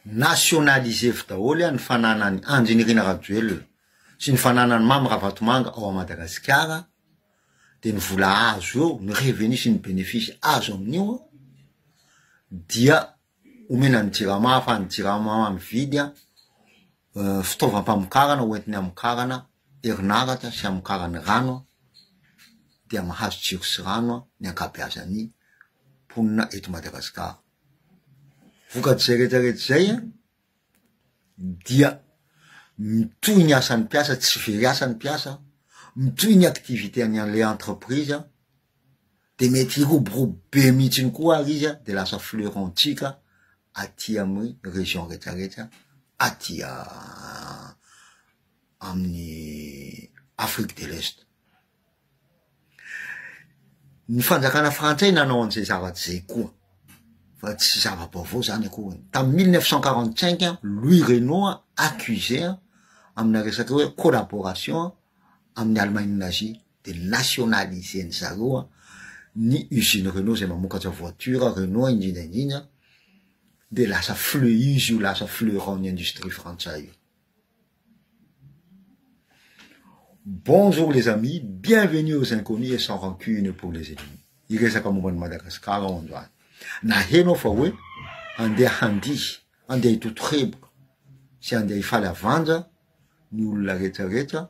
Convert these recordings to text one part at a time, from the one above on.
Nationaliser-vy daholo an ny fananan'i Andry Nirina Rajoelina sy ny fananan'i Mamy Ravatomanga ao Madagasikara dia ny vola azo eo, ny revenu sy ny benefisy azo amin'io dia omena ny jirama ahafahan'ny jirama mividy an fitaovam-pamokarana ho entiny hamokarana herinaratra sy hamokarany rano an dia mahazo jiro sy rano an ny ankabeazan'ny mponina eto Madagasikara. Vokat'izay rehetra rehetra izay an, dia mitohy ny asan'ny mpiasa, tsy very asa ny mpiasa, mitohy ny activité-ny an'ilay entreprise an, dia mety hiroborobo be mihitsy ihany koa ary izy an, dia lasa fleuron-tsika aty amin'ny région rehetra rehetra aty amin'ny Afrique de l'Est. Ny fanjakana frantsay nanao an'izay zavatra izay koa, fa tsy zava-baovao zany akory e, tamin'ny mille neuf cent quarante cinq an, Louis Renault an accusé an amina resaka hoe collaboration an amin'ny Allemagne nazie, de nationaliser-ny zareo an ny usine Renault izay mamokatra voiture Renault indrindra indrindra de lasa fleuise io, lasa fleuron-ny industrie frantsay io. Bonjour les amis, bienvenue aux inconnus et sans rancune pour les ennemis. Hiresaka momba an'i Madagascar aho androany. Naheno aho fa hoe andeha handihy, andeha hitoto heboka sy andeha hifaly havanja ny olona rehetra rehetra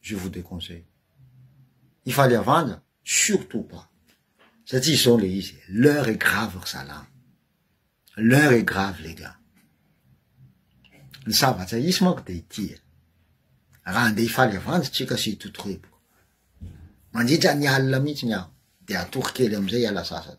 je vous déconseille hifaly havanja surtout pas satria izao le izy e l'heure est grave ry zalahy l'heure est grave les gars ny savatsa hisy manko de ity e raha andeha hifaly havanja tsika sy hitotorepoka mandritra ny alina mihitsy ny aho dia hatory kely amizay hiala sasany,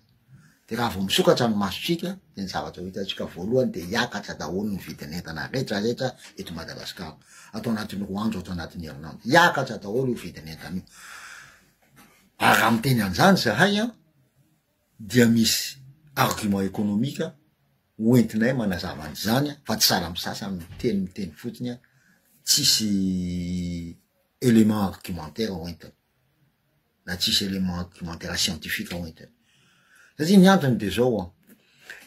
de raha vao misokatra ny masotsika de ny zavatra ho hitantsika voalohany de hiakatra daholo ny vidin'entana retraretra eto Madagascar ato anatin'ny roa andro ato anatin'ny herinandro, hiakatra daholo io vidin'entana io, ary raha miteny anzany zahay an dia misy argument economique ho entinay manazava anzany an fa tsy sahala amin'ny sasany miteny miteny fotsiny an tsisy element argumentaire ho entiny. na tsisy élément documentaire scientifique ao entiny. Satria ny antony de zao an,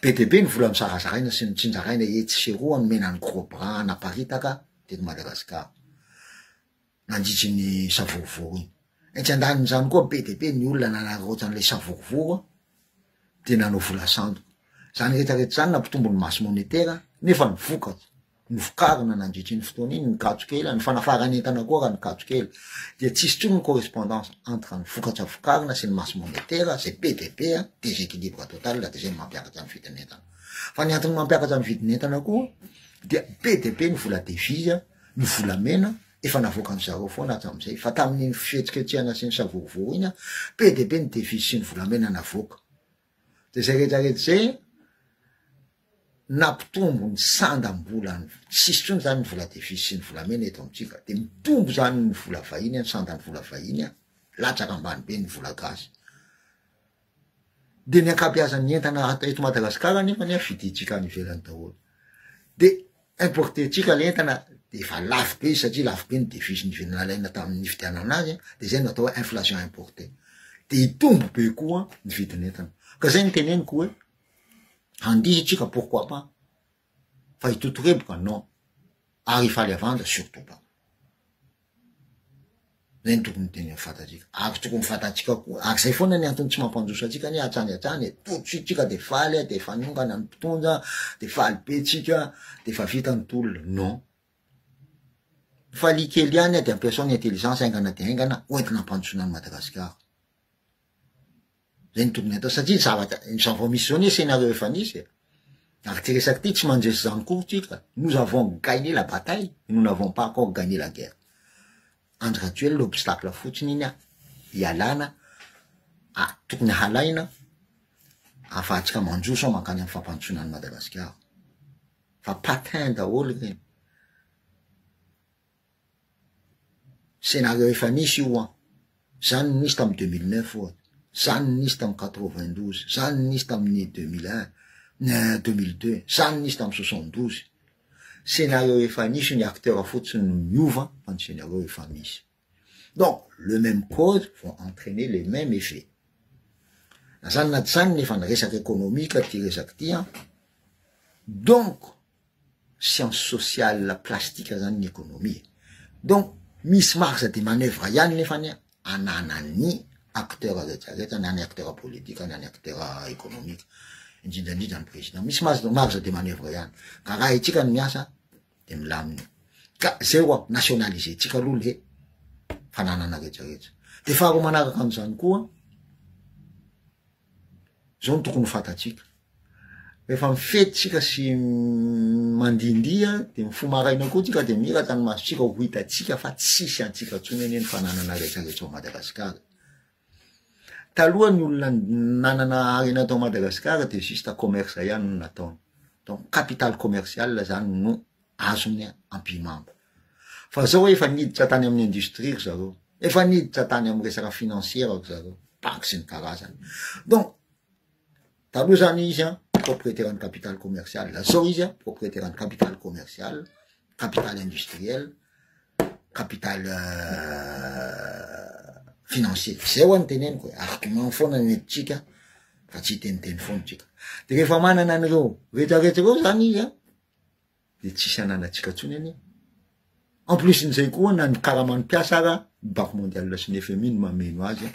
be de be ny vola nosarazaraina sy notsinjaraina etsy sy eroa nomena ny gros bras hanaparitaka teto Madagascar, nandritry ny savorovoro iny. Etsy andanin'izany koa be de be ny olona nanaraotra an'ilay savorovoro de nanao vola sandoka. Zany retraretra zany nampitombo ny masse monétaire nefa ny vokatra, Novokarina nandritra iny fotoana iny ny gadro kely, ny fanafaran'entana koa raha ny gadro kely dia tsy hisy intsony ny correspondance entre ny vokatra vokarina sy ny masse monétaire, izay be dia be, déséquilibre total, dia izay no mampiakatra ny vidin'entana. Fa ny antony mampiakatra ny vidin'entana koa dia be dia be ny vola devise, ny volamena, efa navoakan-dry zareo foana hatramin'izay, fa tamin'iny fihetsiketsehana sy ny savorovoro iny, be dia be ny devise sy ny volamena navoaka. Dia izay rehetra rehetra izay nampitombo ny sandam-bolany, tsisy intsony izany ny vola devizy sy ny volamena eto amintsika, dia mitombo izany ny vola vahiny, ny sandan'ny vola vahiny, latsaka ambany be ny vola gasy. Dia ny ankabeazan'ny entana eto Madagasikara nefa ny fidintsika any ivelany daholo. Dia importer tsika le entana de efa lafo be izy satria lafo be ny devise ny vy nalaina tamin'ny nividianana azy a, de zay no atao hoe inflation importée, de hitombo be koa ny vidin'entana, ka zay no teneniko hoe handihy tsika pourquoi pas fa hitotoheboka non, ary hifaly havanja surtout pas. Zay no tokony teny amin'ny fatantsika. Ary tokony fantantsika koa, ary zay foana ny antony tsy mampandroso antsika anie hatrany hatrany e, tout de suite tsika de faly a, de efa niongana ny mpitondra, de faly be tsika, de efa vita ny tolona. Non. Falia kely ihany a, de ampiasao ny intelligence haingana dia haingana hoentina hampandrosoana an'i Madagasikara. Zay no tokony atao satria zavatra izao vao misy izao anie scénario efa nisy e. Ary ty resaka ty tsy mandresy izany akory tsika. Nous avons gagné la bataille, nous n'avons pas encore gagné la guerre. Andry Rajoelina obstacle fotsiny iny an, ialana a, tokony halaina ahafahantsika manjo sao mankany amin'ny fampandrosoana an'i Madagasikara. Fa patin daholo ireny. Scénario efa nisy io an! Zany no nisy tamin'ny deux mille neuf ohatra, zany no nisy tamin'ny quatre vingt douze, zany no nisy tamin'ny deux mille un, euh, deux mille deux, zany no nisy tamin'ny soixante douze. Scénario efa nisy io, ny acteurs fotsiny no niova fa ny scénario efa misy. Donc, le même cause vont entrainer les mêmes effets. Na zany na tsy zany nefa ny resaka ekonomika ty resaka ty an! Donc, science sociale plastique zany ny economie e! donc misy marge de manoeuvre ihany nefany ananan'ny acteurs rehetra rehetra na ny acteurs politique na ny acteurs economique indrindra indrindra ny président misy marge de manoeuvre ihany ka arahintsika ny miasa de milamina eo ka zay hoa nationaliser tsika aloha le fananana rehetra rehetra de faharoa manaraka an'izany koa Izao no tokony ho fantatsika. Rehefa mifety tsika sy mandihindiha dia mifoha maraina koa tsika dia miraka ny masotsika ho hitantsika fa tsisy antsika intsony anie ny fananana rehetra rehetra ao Madagasikara. Taloha ny olona nanana harena tao Madagasikara dia juste commerce ihany no nataony. Donc capital commercial zany no azony ampihimanto. Fa zao hoe efa niditra tany amin'ny industrie ry zareo, efa niditra tany amin'ny resaka financière ry zareo, banque sy ny karazany. Donc, taloha zany izy an, propriétaire ny capital commercial, zao izy an, propriétaire ny capital commercial, capital industriel, capital euh, financier. Zay ho anteneniko e, argument foana ny hiditsika fa tsy hiteniteny foana tsika. De rehefa manana an'ireo rehetrarehetra ireo zany izy an, dia tsisy hananantsika intsony anie. En plus n'izay koa na ny karaman'ny mpiasa ara ny banque mondiale sy ny FMI no mameno azy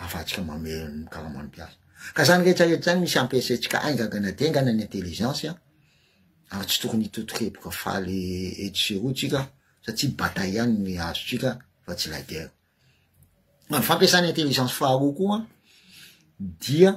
afatsika mameno ny karaman'ny mpiasa. Ka zany rehetra rehetra zany misy ampiasaintsika aingagana dengana ny intelligence ary tsy tokony hitotokepoka faly etsy sy eroa tsika satsia bataille ihany ny azotsika fa tsy la guerre. Ny fampiasana intelligence faharoa koa dia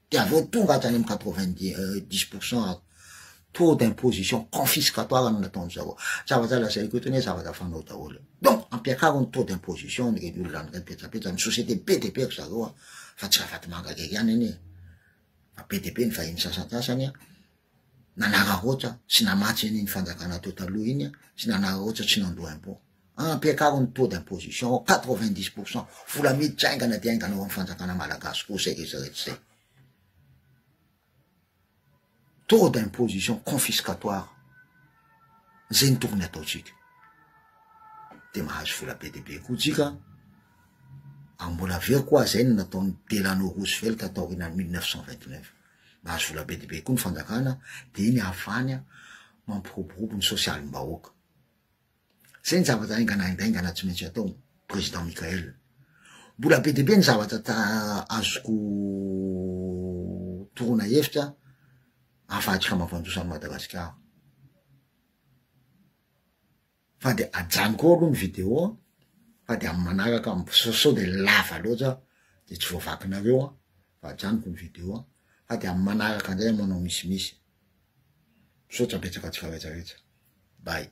De avy eo tonga hatrany amin'ny quatre vingt dix pour cent ary taux d'imposition confiscatoire no nataon'ny zareo. Zavatra lazaiko eto anie zavatra fanao daholo e. Donc ampiakaro ny taux d'imposition an'ireny olona an'ireny petsapetsa, ny société be dia be ry zareo an, fa tsy Ravatomanga irery ihany anie e, fa be dia be ny vahiny sasantsasany an. nanararaotra sy namatsy an'iny fanjakana teo taloha iny sy nanararaotra sy nandoa impôt. Ampiakaro ny taux d'imposition ao quatre-vingt-dix pour cent, vola miditra haingana dia haingana ao amin'ny fanjakana malagasy koa izay rehetra rehetra izay. Taux d'imposition confiscatoire, izay no tokony hataontsika. Dia mahazo vola be dia be koa tsika, ary mbola very koa izay no nataon'i Delano Roosevelt taorianan'ny mille neuf cent vingt-neuf. Nahazo vola be dia be koa ny fanjakana dia iny afany mampiroborobo ny sosialim-bahoaka. Izay ny zavatra haingana haingaingana tsy maintsy atao, Président Michaël. Mbola be dia be ny zavatra azoko toroana hevitra ahafahantsika mampandroso an'i Madagasikara. Fa de ajanoko ao aloha ny video an, fa de amin'ny manaraka sao sao de lava loatra de tsy voavakinareo an, fa ajanoko ny video an, fa de amin'ny manaraka indray manao misimisy. Misaotra betsaka tsy faharetsaretsa. Bye.